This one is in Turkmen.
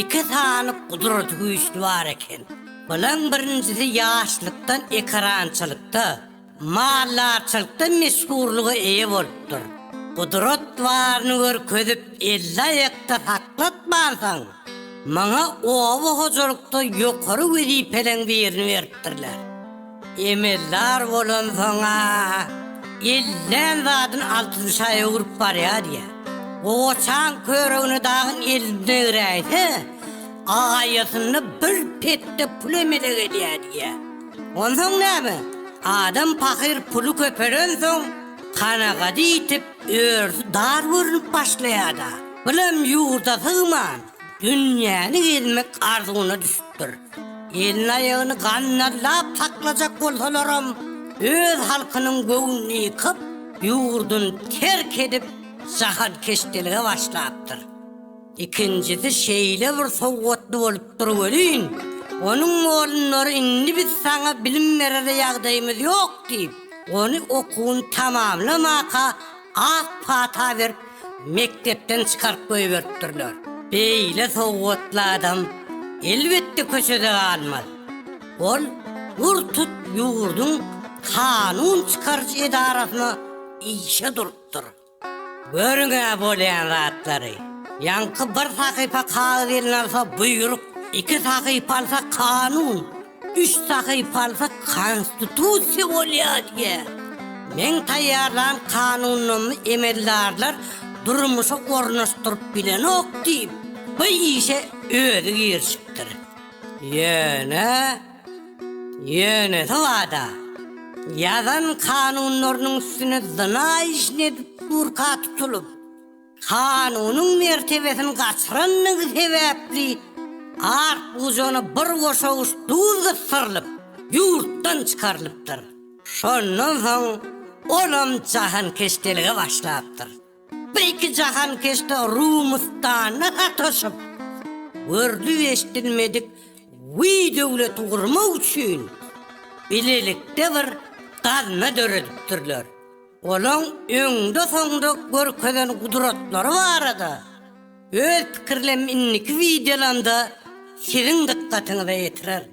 Iki sany gudrat güýçli bar eken. Bulaň birinjisi ýaşlykdan ekerançylykda, maldarçylykda meşhurlyga eýe bolupdyr. Gudrat baryny görkezip elli aýakda saklatmansoň, maňa oba hojalykda ýokary wezipeleň birini beripdirler. Emeldar bolansoň-a, ellän zadyny altyn şaýa urup barýa diýýär. Gowaçaň körügini dagyň elinde eräýse, agaýasynda bir petde pul emelek edýär diýýär. Onsoň näme? Adam pahyr puly köpelensoň, kanagady ýitip, örüsi dar görnüp başlaýar-da. Bulam ýurda sygman, dünýäni gezmek arzuwyna düşüpdir. bolupdyr. Elini-aýagyny gannallap saklajak bolsalaram, öz halkynyň göwnüni ýykyp, ýurduny terk edip, jahankeşdelige başlapdyr. Ikinjisi şeýle bir sowgatly bolupdyr welin, onuň molunlary indi biz saňa bilim berere ýagdaýymyz ýok diýip, ony okuwyny tamamlamaka Ak pata berip, mekdepden çykaryp goýberipdirler. Beýle sowgatly adam, elbetde, köçede galmaz. Ol gurtut ýurduň kanun çykaryjy edarasyna işe durupdyr. Görüň-ä bolýan zatlary! Ýaňky bir sahypa kagyz eline alsa, buýruk, iki sahypa alsa, kanun! Üç sahypalyk Konstitusiýa bolýar diýýä. Meň taýýarlan kanunlarymy emeldarlar durmuşa ornaşdyryp bilenok diýip, bu işe özi girişipdir. Ýöne, ýönesi bada, ýazan kanunlarynyň üstüne zyna işini edip durka tutulyp, Kanunyň mertebesini gaçyrandygy sebäpli Artgujany bir goşawuç duz gysdyrylyp, ýurtdan çykarylypdyr. Şondan soň olam jahankeşdelige başlapdyr. Bir iki jahankeşde Rumustanda sataşyp, görlüp-eşdilmedik guýy döwleti gurmak üçin bilelikde bir gazna döredipdirler. Onuň öňde-soňda görkezen gudratlary barada öz pikirlem indiki wideolamda siziň dykgatyňyza ýetirerin.